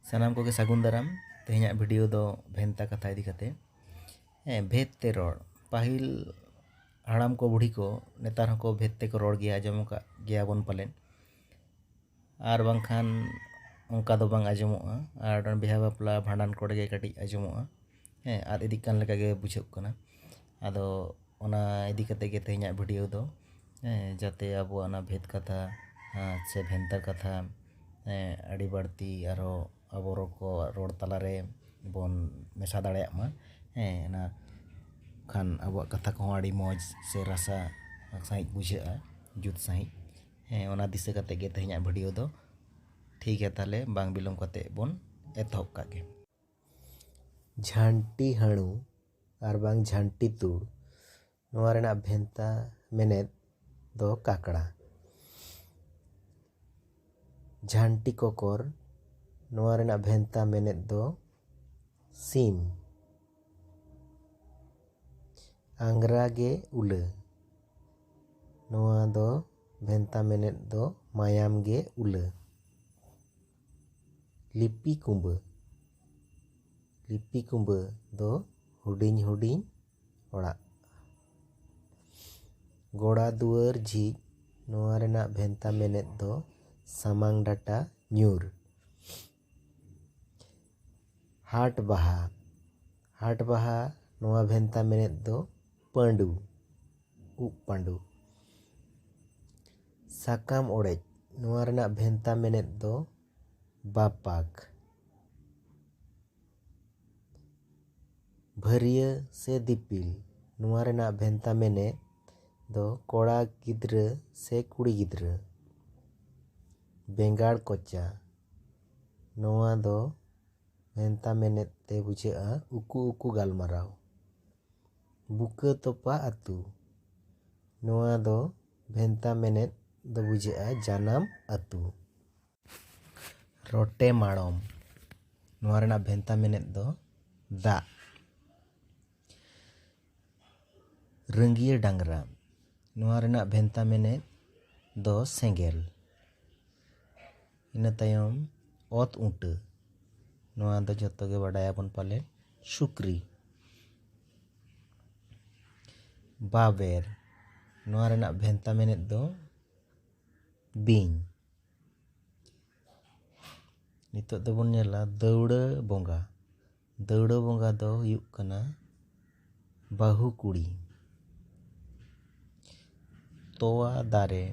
ᱥᱟᱱᱟᱢ ᱠᱚᱜᱮ ᱥᱟᱹᱜᱩᱱ ᱫᱟᱨᱟᱢ ᱛᱮᱦᱮᱧᱟᱜ ᱵᱷᱤᱰᱤᱭᱳ ᱫᱚ ᱵᱷᱮᱱᱛᱟ ᱠᱟᱛᱷᱟ ᱤᱫᱤ ᱠᱟᱛᱮ ᱦᱮᱸ ᱵᱷᱮᱫ ᱛᱮ ᱨᱚᱲ ᱯᱟᱹᱦᱤᱞ ᱦᱟᱲᱟᱢ ᱠᱚ ᱵᱩᱲᱦᱤ ᱠᱚ ᱱᱮᱛᱟᱨ ᱦᱚᱸᱠᱚ ᱵᱷᱮᱫ ᱛᱮᱠᱚ ᱨᱚᱲ ᱜᱮᱭᱟ ᱟᱸᱡᱚᱢ ᱟᱠᱟᱫ ᱜᱮᱭᱟ ᱵᱚᱱ ᱯᱟᱞᱮᱱ ᱟᱨ ᱵᱟᱝᱠᱷᱟᱱ ᱚᱱᱠᱟ ᱫᱚ ᱵᱟᱝ ᱟᱸᱡᱚᱢᱚᱜᱼᱟ ᱟᱨ ᱵᱤᱦᱟᱹ ᱵᱟᱯᱞᱟ ᱵᱷᱟᱸᱰᱟᱱ ᱠᱚᱨᱮ ᱜᱮ ᱠᱟᱹᱴᱤᱡ ᱟᱸᱡᱚᱢᱚᱜᱼᱟ ᱦᱮᱸ ᱟᱫ ᱤᱫᱤᱜ ᱠᱟᱱ ᱞᱮᱠᱟ ᱜᱮ ᱵᱩᱡᱷᱟᱹᱜ ᱠᱟᱱᱟ ᱟᱫᱚ ᱚᱱᱟ ᱤᱫᱤ ᱠᱟᱛᱮ ᱜᱮ ᱛᱮᱦᱮᱧᱟᱜ ᱵᱷᱤᱰᱤᱭᱳ ᱫᱚ ᱦᱮᱸ ᱡᱟᱛᱮ ᱟᱵᱚᱣᱟᱜ ᱚᱱᱟ ᱵᱷᱮᱫᱽ ᱠᱟᱛᱷᱟ ᱥᱮ ᱵᱷᱮᱱᱛᱟ ᱠᱟᱛᱷᱟ ᱦᱮᱸ ᱟᱹᱰᱤ ᱵᱟᱹᱲᱛᱤ ᱟᱨᱦᱚᱸ ᱟᱵᱚ ᱨᱚᱲ ᱠᱚ ᱨᱚᱲ ᱛᱟᱞᱟ ᱨᱮ ᱵᱚᱱ ᱢᱮᱥᱟ ᱫᱟᱲᱮᱭᱟᱜ ᱢᱟ ᱦᱮᱸ ᱚᱱᱟ ᱠᱷᱟᱱ ᱟᱵᱚᱣᱟᱜ ᱠᱟᱛᱷᱟ ᱠᱚᱦᱚᱸ ᱟᱹᱰᱤ ᱢᱚᱡᱽ ᱥᱮ ᱨᱟᱥᱟ ᱥᱟᱺᱦᱤᱡ ᱵᱩᱡᱷᱟᱹᱜᱼᱟ ᱡᱩᱛ ᱥᱟᱺᱦᱤᱡ ᱦᱮᱸ ᱚᱱᱟ ᱫᱤᱥᱟᱹ ᱠᱟᱛᱮ ᱜᱮ ᱛᱮᱦᱮᱧᱟᱜ ᱵᱷᱤᱰᱤᱭᱳ ᱫᱚ ᱴᱷᱤᱠ ᱜᱮᱭᱟ ᱛᱟᱦᱚᱞᱮ ᱵᱟᱝ ᱵᱤᱞᱚᱢ ᱠᱟᱛᱮ ᱵᱚᱱ ᱮᱛᱚᱦᱚᱵ ᱠᱟᱜ ᱜᱮ ᱡᱷᱟᱹᱱᱴᱤ ᱦᱟᱹᱬᱩ ᱟᱨ ᱵᱟᱝ ᱡᱷᱟᱹᱱᱴᱤ ᱛᱩᱲ ᱱᱚᱣᱟ ᱨᱮᱱᱟᱜ ᱵᱷᱮᱱᱛᱟ ᱢᱮᱱᱮᱛ ᱫᱚ ᱠᱟᱠᱲᱟ ᱡᱷᱟᱹᱱᱴᱤ ᱠᱚᱠᱚᱨ ᱱᱚᱣᱟ ᱨᱮᱱᱟᱜ ᱵᱷᱮᱱᱛᱟ ᱢᱮᱱᱮᱛ ᱫᱚ ᱥᱤᱢ ᱟᱝᱜᱽᱨᱟ ᱜᱮ ᱩᱞᱟᱹ ᱱᱚᱣᱟ ᱫᱚ ᱵᱷᱮᱱᱛᱟ ᱢᱮᱱᱮᱛ ᱫᱚ ᱢᱟᱭᱟᱢ ᱜᱮ ᱩᱞᱟᱹ ᱞᱤᱯᱤ ᱠᱩᱢᱵᱟᱹ ᱞᱤᱯᱤ ᱠᱩᱢᱵᱟᱹ ᱫᱚ ᱦᱩᱰᱤᱧ ᱦᱩᱰᱤᱧ ᱚᱲᱟᱜ ᱜᱚᱲᱟ ᱫᱩᱣᱟᱹᱨ ᱡᱷᱤᱡ ᱱᱚᱣᱟ ᱨᱮᱱᱟᱜ ᱵᱷᱮᱱᱛᱟ ᱢᱮᱱᱮᱛ ᱫᱚ ᱥᱟᱢᱟᱝ ᱰᱟᱴᱟ ᱧᱩᱨ ᱦᱟᱴ ᱵᱟᱦᱟ ᱦᱟᱴ ᱵᱟᱦᱟ ᱱᱚᱣᱟ ᱵᱷᱮᱱᱛᱟ ᱢᱮᱱᱮᱛ ᱫᱚ ᱯᱟᱺᱰᱩ ᱩᱵ ᱯᱟᱺᱰᱩ᱾ ᱥᱟᱠᱟᱢ ᱚᱲᱮᱡ, ᱱᱚᱣᱟ ᱨᱮᱱᱟᱜ ᱵᱷᱮᱱᱛᱟ ᱢᱮᱱᱮᱛ ᱫᱚ ᱵᱟᱯᱟᱜᱽ, ᱵᱷᱟᱹᱨᱤᱭᱟᱹ ᱥᱮ ᱫᱤᱯᱤᱞ, ᱱᱚᱣᱟ ᱨᱮᱱᱟᱜ ᱵᱷᱮᱱᱛᱟ ᱢᱮᱱᱮᱛ ᱫᱚ ᱠᱚᱲᱟ ᱜᱤᱫᱽᱨᱟᱹ ᱥᱮ ᱠᱩᱲᱤ ᱜᱤᱫᱽᱨᱟᱹ᱾ ᱵᱮᱸᱜᱟᱲ ᱠᱚᱪᱟ, ᱱᱚᱣᱟ ᱫᱚ ᱵᱷᱮᱱᱛᱟ ᱢᱮᱱᱮᱛ ᱛᱮ ᱵᱩᱡᱷᱟᱹᱜᱼᱟ ᱩᱠᱩ ᱩᱠᱩ ᱜᱟᱞᱢᱟᱨᱟᱣ᱾ ᱵᱩᱠᱟᱹ ᱛᱚᱯᱟ ᱟᱹᱛᱩ ᱱᱚᱣᱟ ᱫᱚ ᱵᱷᱮᱱᱛᱟ ᱢᱮᱱᱮᱛ ᱫᱚ ᱵᱩᱡᱷᱟᱹᱜᱼᱟ ᱡᱟᱱᱟᱢ ᱟᱹᱛᱩ ᱨᱚᱴᱮ ᱢᱟᱲᱚᱢ ᱱᱚᱣᱟ ᱨᱮᱱᱟᱜ ᱵᱷᱮᱱᱛᱟ ᱢᱮᱱᱮᱛ ᱫᱚ ᱫᱟᱜ ᱨᱟᱹᱝᱜᱤᱭᱟᱹ ᱰᱟᱝᱨᱟ ᱱᱚᱣᱟ ᱨᱮᱱᱟᱜ ᱵᱷᱮᱱᱛᱟ ᱢᱮᱱᱮᱛ ᱫᱚ ᱥᱮᱸᱜᱮᱞ᱾ ᱤᱱᱟᱹ ᱛᱟᱭᱚᱢ ᱚᱛ ᱩᱴᱟᱹ᱾ ᱱᱚᱣᱟ ᱫᱚ ᱡᱚᱛᱚ ᱜᱮ ᱵᱟᱰᱟᱭ ᱟᱵᱚᱱ ᱯᱟᱞᱮ ᱥᱩᱠᱨᱤ᱾ ᱵᱟᱵᱮᱨ᱾ ᱱᱚᱣᱟ ᱨᱮᱱᱟᱜ ᱵᱷᱮᱱᱛᱟ ᱢᱮᱱᱮᱛ ᱫᱚ ᱵᱤᱧ᱾ ᱱᱤᱛᱚᱜ ᱫᱚᱵᱚᱱ ᱧᱮᱞᱟ ᱫᱟᱹᱣᱲᱟᱹ ᱵᱚᱸᱜᱟ᱾ ᱫᱟᱹᱣᱲᱟᱹ ᱵᱚᱸᱜᱟ ᱫᱚ ᱦᱩᱭᱩᱜ ᱠᱟᱱᱟ ᱵᱟᱹᱦᱩ ᱠᱩᱲᱤ ᱛᱚᱣᱟ ᱫᱟᱨᱮ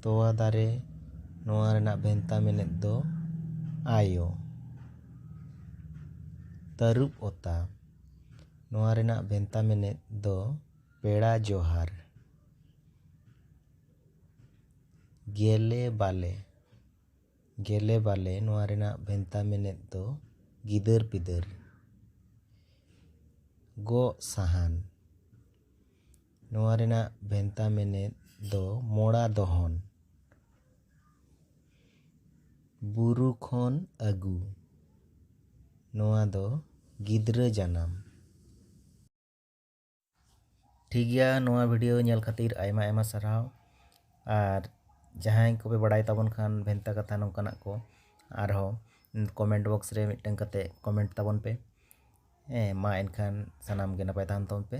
ᱛᱚᱣᱟ ᱫᱟᱨᱮ ᱱᱚᱣᱟ ᱨᱮᱱᱟᱜ ᱵᱷᱮᱱᱛᱟ ᱢᱮᱱᱮᱛ ᱫᱚ ᱟᱭᱳ ᱛᱟᱹᱨᱩᱵ ᱚᱛᱟ ᱱᱚᱣᱟ ᱨᱮᱱᱟᱜ ᱵᱷᱮᱱᱛᱟ ᱢᱮᱱᱮᱛ ᱫᱚ ᱯᱮᱲᱟ ᱡᱚᱦᱟᱨ ᱜᱮᱞᱮ ᱵᱟᱞᱮ ᱜᱮᱞᱮ ᱵᱟᱞᱮ ᱱᱚᱣᱟ ᱨᱮᱱᱟᱜ ᱵᱷᱮᱱᱛᱟ ᱢᱮᱱᱮᱛ ᱫᱚ ᱜᱤᱫᱟᱹᱨ ᱯᱤᱫᱟᱹᱨ᱾ ᱜᱚᱜ ᱥᱟᱦᱟᱱ ᱱᱚᱣᱟ ᱨᱮᱱᱟᱜ ᱵᱷᱮᱱᱛᱟ ᱢᱮᱱᱮᱛ ᱫᱚ ᱢᱚᱲᱟ ᱫᱚᱦᱚᱱ᱾ ᱵᱩᱨᱩ ᱠᱷᱚᱱ ᱟᱹᱜᱩ ᱱᱚᱣᱟ ᱫᱚ ᱜᱤᱫᱽᱨᱟᱹ ᱡᱟᱱᱟᱢ᱾ ᱴᱷᱤᱠ ᱜᱮᱭᱟ ᱱᱚᱣᱟ ᱵᱷᱤᱰᱤᱭᱳ ᱧᱮᱞ ᱠᱷᱟᱹᱛᱤᱨ ᱟᱭᱢᱟ ᱟᱭᱢᱟ ᱥᱟᱨᱦᱟᱣ ᱟᱨ ᱡᱟᱦᱟᱸᱭ ᱠᱚᱯᱮ ᱵᱟᱲᱟᱭ ᱛᱟᱵᱚᱱ ᱠᱷᱟᱱ ᱵᱷᱮᱱᱛᱟ ᱠᱟᱛᱷᱟ ᱱᱚᱝᱠᱟᱱᱟᱜ ᱠᱚ ᱟᱨᱦᱚᱸ ᱠᱚᱢᱮᱱᱴ ᱵᱚᱠᱥ ᱨᱮ ᱢᱤᱫᱴᱟᱝ ᱠᱟᱛᱮ ᱠᱚᱢᱮᱱᱴ ᱛᱟᱵᱚᱱ ᱯᱮ ᱦᱮᱸ ᱢᱟ ᱮᱱᱠᱷᱟᱱ ᱥᱟᱱᱟᱢ ᱜᱮ ᱱᱟᱯᱟᱭ ᱛᱟᱦᱮᱱ ᱛᱟᱵᱚᱱ ᱯᱮ